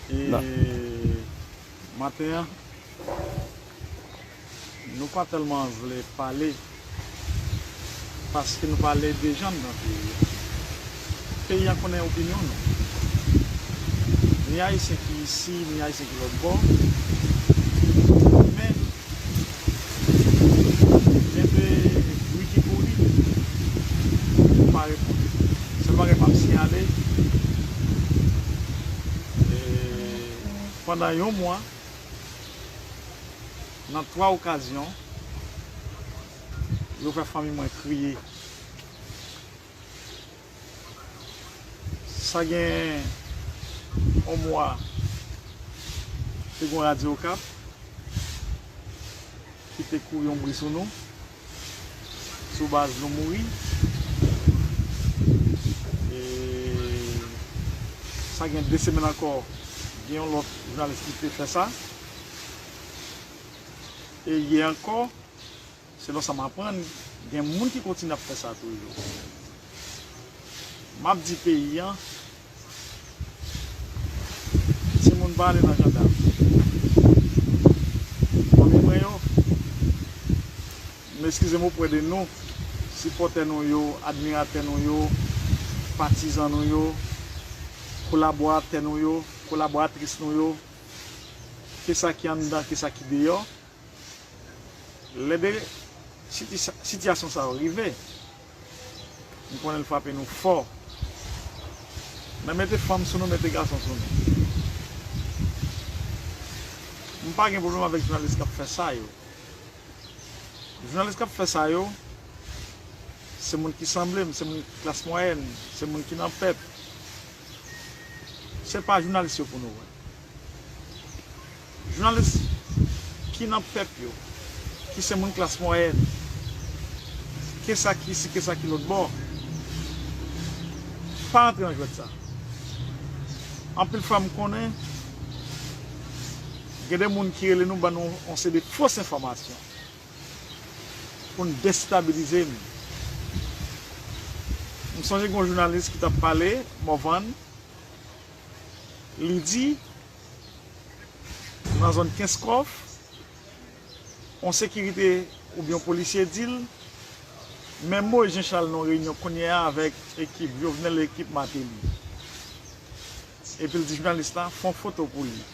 E maten an, nou pa tèlman vle pale paske nou pa ledejann nan peyi a. Peyi a konnen opinyon nou. Ni Ayisyen ki isi, ni Ayisyen ki lòtbò. Men. Kenbe wi ki pou li. Ou pa reponn. Sèl bagay map siyale pandan yon mwa nan 3 okazyon yo fè fanmi mwen kriye. Sa gen yon mwa, te gen yon radyo Okap ki te kouri yon bri sou nou, sou baz nou mouri. E sa gen de semèn ankò, gen yon lòt jounalis ki te fè sa. E yè ankò. Selon sa m aprann, gen moun ki kontinye ap fè sa toujou. M ap di peyi an, timoun pa ale nan jandam. Fanmi mwen yo, m eskize m opwè de nou, sipòtè nou yo, admiratè nou yo, patizan nou yo, kolaboratè nou yo, kolaboratris nou yo, ke sa ki anndan, ke sa ki deyò. Lè de sitiyasyon sa yo rive, nou konnen l frape nou fò. Men mete fanm sou nou, mete gason sou nou. M pa gen pwoblèm avèk jounalis k ap fè sa yo. Jounalis k ap fè sa yo, se moun ki sanble m, se moun klas mwayèn, se moun ki nan pèp. Se pa jounalis yo pou nou wè. Jounalis ki nan pèp yo, ki se moun klas mwayèn, ke sa ki isi, ke sa ki lòtbò, pa antre nan jwèt sa. Anpil fwa m konnen gen de moun ki rele nou ban nou yon seri fos enfòmasyon pou n destabilize n. M sonje gen yon jounalis ki t ap pale Morvan, li di. nan zòn Kenskòf, yon sekirite oubyen yon polisye di l, men Moïse Jean Charles nan yon reyinyon kounye a avèk ekip Jovenel e ekip Martelly. Epi l di jounalis la, fè yon foto pou li.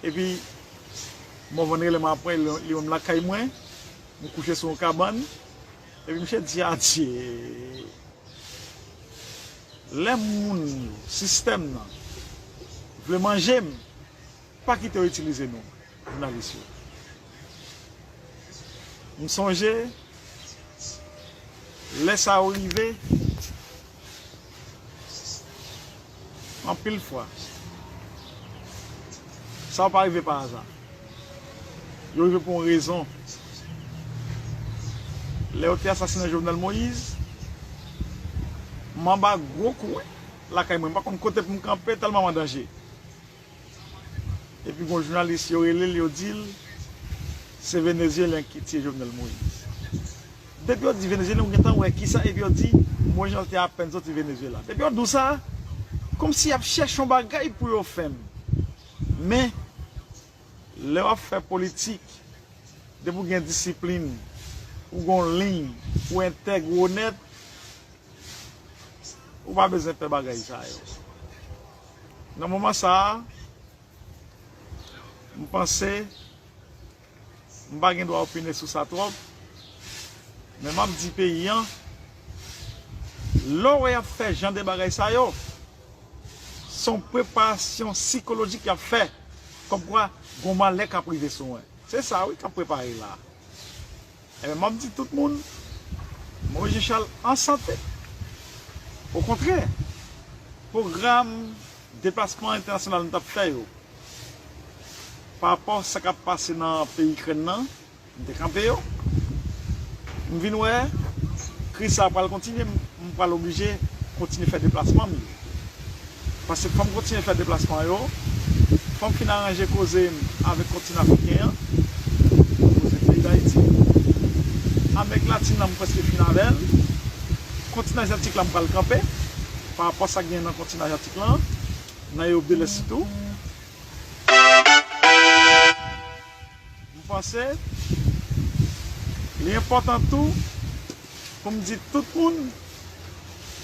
Epi, Morvan rele m apre, li wè m lakay mwen, m kouche sou yon kabann, epi misye di adye. Lè moun yo, sistèm nan, vle manje m, pa kite yo itilize nou, jounalis yo. M sonje, lè sa yo rive, anpil fwa, sa yo pa rive pa aza. Yo rive pou yon rezon. Lè yo te asasinen Jovenel Moïse, m anba gwo kou wi lakay mwen. M pa konn kote pou m kanpe tèlman m an danje. Epi gon jounalis yo rele l, yo di l, se Venezyelyen ki tiye Jovenel Moïse. Depi yo di Venezyelyen, ou gen tan wè kisa epi yo di Moïse Jean-Charles te apèn soti Venezyela. Depi yo di w sa, kòmsi y ap chèche yon bagay pou yo fè m. Men, lè w ap fè politik, depi w gen disiplin, ou gen yon liy, ou entèg, ou onèt, ou pa bezwen pè bagay sa yo. Nan moman sa a, m panse. M pa gen dwa opine sou sa twòp, men m ap di peyi an, lè w wè y ap fè jan de bagay sa yo, s on preparasyon sikolojik y ap fè, kòmkwa gon malè k ap rive sou mwen. Se sa wi k ap prepare la a. Ebyen map di tout moun Moise Jean Charles an sante. Okontrè, pwogram deplasman entènasyonal nou tap fè yo, pa rapò sa kap pase nan peyi Ikrèn nan, m te kanpe yo. M vin wè kriz sa a pral kontinye, m pral oblije kontinye fè deplasman m yo. Paske fòm kontinye fè deplasman yo, fòm fin aranje koze m avèk kontinan afriken an, koze peyi dayiti, amerik latin nan m prèske fin avè l, kontinan aziatik la m pral kanpe, pa rapò sa k genyen nan kontinan aziatik lan, nan Ewop de lès sitou. M panse li enpòtan tou pou m di tout moun,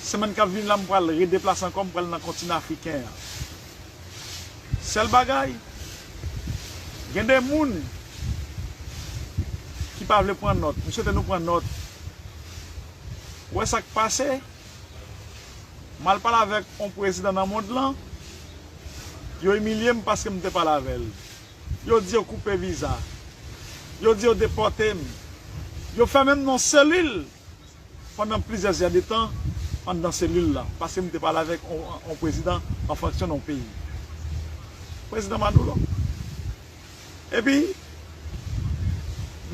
semèn k ap vini la m pral redeplase ankò, m pral nan kontinan afriken an. Sèl bagay, gen de moun ki pa vle pran nòt, m swete nou pran nòt. Ou wè sa k pase, m al pale avèk yon prezidan nan mond lan, yo imilye m paske m te pale avè l. Yo di yo koupe viza. Yo di yo depòte m. Yo fèmen m nan yon selil pandan plizyè zè de tan anndan selil la paske m te pale avèk yon prezidan an fonksyon nan yon peyi. Prezidan Maduro. Epi,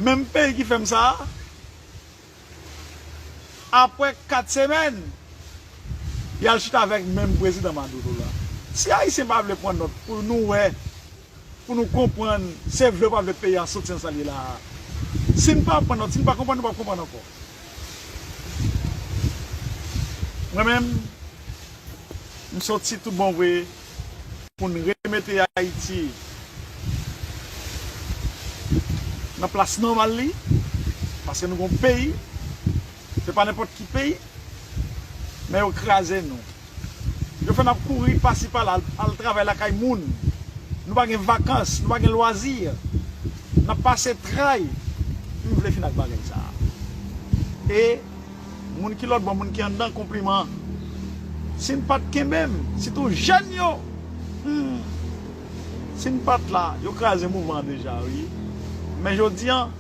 menm peyi ki fè m sa a, Apre 4 semèn, y al chita avèk menm prezidan Maduro la. Si Ayisyen pa vle pran nòt pou nou wè, pou nou konprann, se vle ou pa vle peyi a soti nan sa l ye la a. Si n pa pran nòt, si n pa konprann, nou p ap konprann ankò. Mwen menm, m soti tout bon vre Pou n remete Ayiti nan plas nòmal li, paske nou gen yon peyi, se pa nenpòt ki peyi, men yo kraze nou. Yo fè n ap kouri pasi pala, al travay lakay moun, nou pa gen vakans, nou pa gen lwazi, n ap pase tray, m vle fin ak bagay sa a. E. Moun ki lòtbò moun ki anndan konpliman si n pat kenbe m sitou jèn yo humm si n pat la yo kraze mouvan an deja wi men jodi an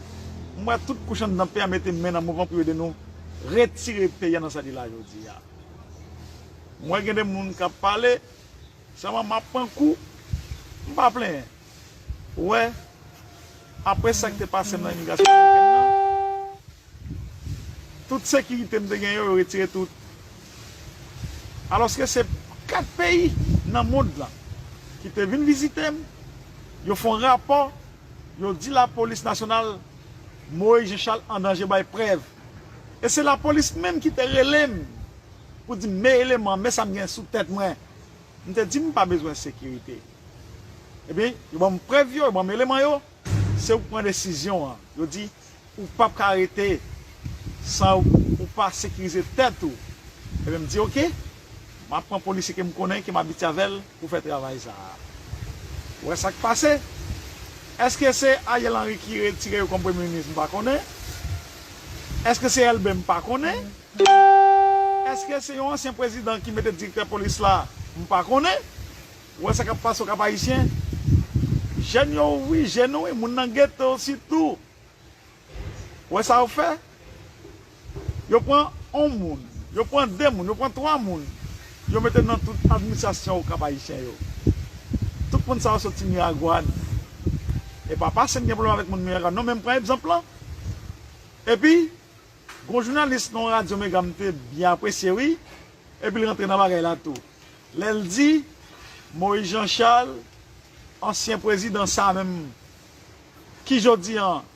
m wè tout kouch anndan peyi a mete men nan mouvan pou yo ede nou retire peyi a nan sa li la jodi a m wè gen de moun k ap pale sèlman m ap pran kou m pa plenyen. Wè, apre sa ki te pase m nan imigrasyon amerikèn nan, tout sekirite m te gen yo, yo retire tout. Alòske se 4 peyi nan mond lan ki te vin vizite m, yo fè yon rapò, yo di lapolis nasyonal Moïse Jean Charles an danje bay prèv. E se lapolis menm ki te rele m pou di m men eleman, men sa m gen sou tèt mwen. M te di m pa bezwen sekirite. Ebyen, yo ban m prèv yo, yo ban m eleman yo, se ou k pran desizyon an. Yo di, ou pap ka rete san ou pa sekirize tèt ou. Ebyen, m di ok, m ap pran polisye ke m konnen, ke m abitye avè l pou fè travay sa a. Ou wè sa k pase? Eske se Ariel Henry ki retire yo kòm premye minis? M pa konnen. Eske se Elbe? M pa konnen. Eske se yon ansyen prezidan ki mete direktè polis la m pa konnen, ou wè sa kap pase au Cap Haïtien jèn yo ouvri je nou wi moun nan ghetto sitou ou wè sa yo fè yo pran on moun yo pran 2 moun yo pran 3 moun yo mete nan tout administration au Cap Haïtien yo tout moun sa yo soti Miragwàn epa pasem gen problèm avèk moun Miragwàn non men m pran epzanp lan epi Gon jounalis nan yon radyo mega m te byen apresye wi epi l rantre nan bagay la tou lè l di Moïse Jean Charles ansyen prezidan sa menm ki jodi an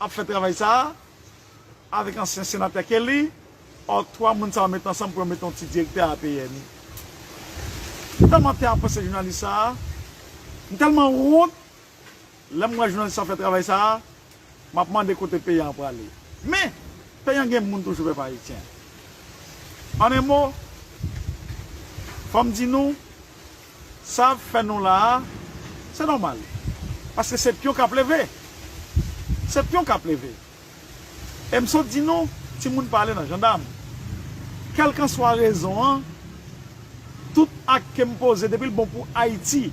ap fè travay sa avèk ansyen senatè Kelly or 3 moun sa yo mete ansanm pou yo mete yon ti direktè APN m tèlman te apresye jounalis sa m tèlman wont. Lè mwen jwenn san fè travay sa a, m ap mande kote peyi an prale. Men, peyi an gen moun toujou pèp Ayisyen. An en mo, fò m di nou, sa ap fè nou la a, se nòmal. Paske se pyon k ap leve. Se pyon k ap leve. E m sot di nou, timoun pa ale nan jandam. Kèlkanswa rezon an, tout ak ke m poze depi l bon pou Ayiti,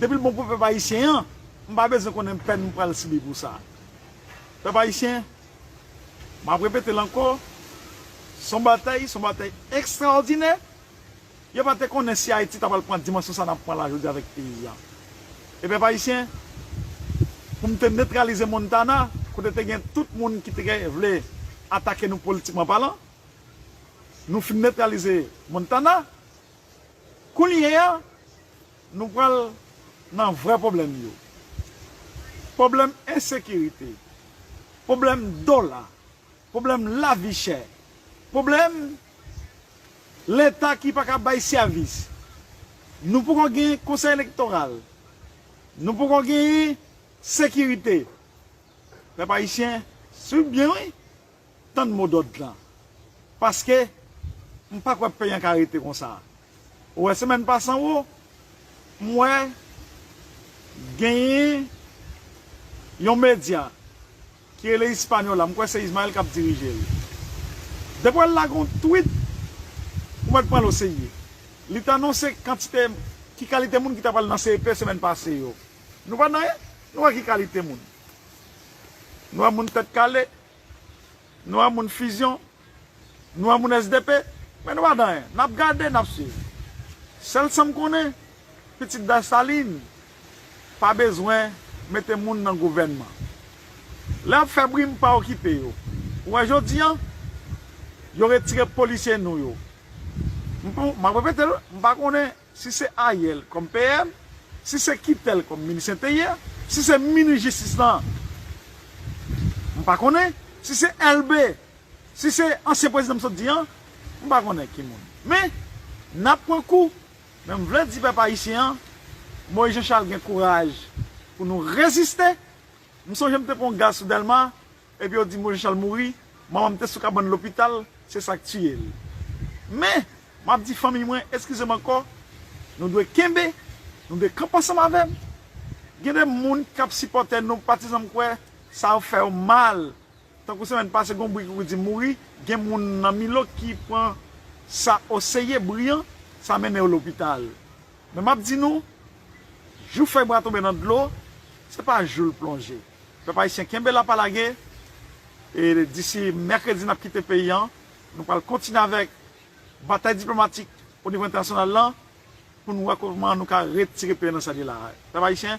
depi l bon pou pèp ayisyen an, m pa bezwen konnen pèn m pral sibi pou sa. Pèp ayisyen, m ap repete l ankò, s on batay, s on batay ekstraòdinè, Yo pa te konnen si Ayiti ta pral pran dimansyon sa nap pran la jodi avèk peyi a. E pèp ayisyen, pou m te netralize Montana, kote te gen tout moun ki te vle atake nou politikman palan, nou fin netralize Montana, kounye a, nou pral nan vrè pwoblèm yo. Pwoblèm ensekirite, pwoblèm dola. Pwoblèm lavi chè. Pwoblèm Leta ki pa ka bay sèvis. Nou poko gen Konsèy Elektoral. Nou poko genyen sekirite. Pèp Ayisyen, suiv byen wi, tann mo dòd lan. Paske, m pa kwè peyi an ka rete konsa. Ou wè semèn pase an wo, m wè genyen yon medya Ki rele Hispaniola, m kwè se Ismael kap dirije l. Depi wè l lage yon tweet, ou mèt pran l oserye. Li t anonse kantite, ki kalite moun ki ta pral nan CEP semèn pase yo. Nou pa nan, nou wè ki kalite moun. Nou wè moun tèt kale, nou wè moun fusion. Nou e moun sdp, men nou pa di anyen. Nap gade, nap swiv. Sèl sam konnen, pitit Dessalines pa bezwen mete moun nan gouvènman. Lè yap fè bri m pa okipe yo. Ou wè jodi an, yo retire polisye nou yo. M pou, map repete l, m pa konnen. Si se Ariel kòm PM, si se Kitel kòm minis enteryè, si se minis jistis lan m pa konnen, si se Elbe, si se ansyen prezidan m sot di an, m pa konnen ki moun. Men, n ap pran kou, men m vle di pèp ayisyen an, Moïse Jean Charles gen kouraj pou nou reziste. M sonje m te pran yon gaz sou Dèlma, Epi yo di Moise Charles mouri, manman m te sou kabann lopital, se sa k tiye l. Men, m ap di fanmiy mwen, eskize m ankò, nou dwe kenbe, nou dwe kanpe ansanm avè m. Gen de moun k ap sipòte nou, patizan m kwè sa ap fè yo mal. Tankou semèn pase gen yon bri ki kou di mouri, gen moun nan Milo ki pran sa oseye, bri an, sa mennen yo lopital. Men m ap di nou, jou fèy bra tonbe nan dlo, se pa jou l plonje. Pèp ayisyen kenbe la pa lage e disi mèkredi nap kite peyi an nou pral kontinye avèk batay diplomatik onivo entènasyonal lan pou nou wè kòman nou ka retire peyi an nan sa li la pèp ayisyen.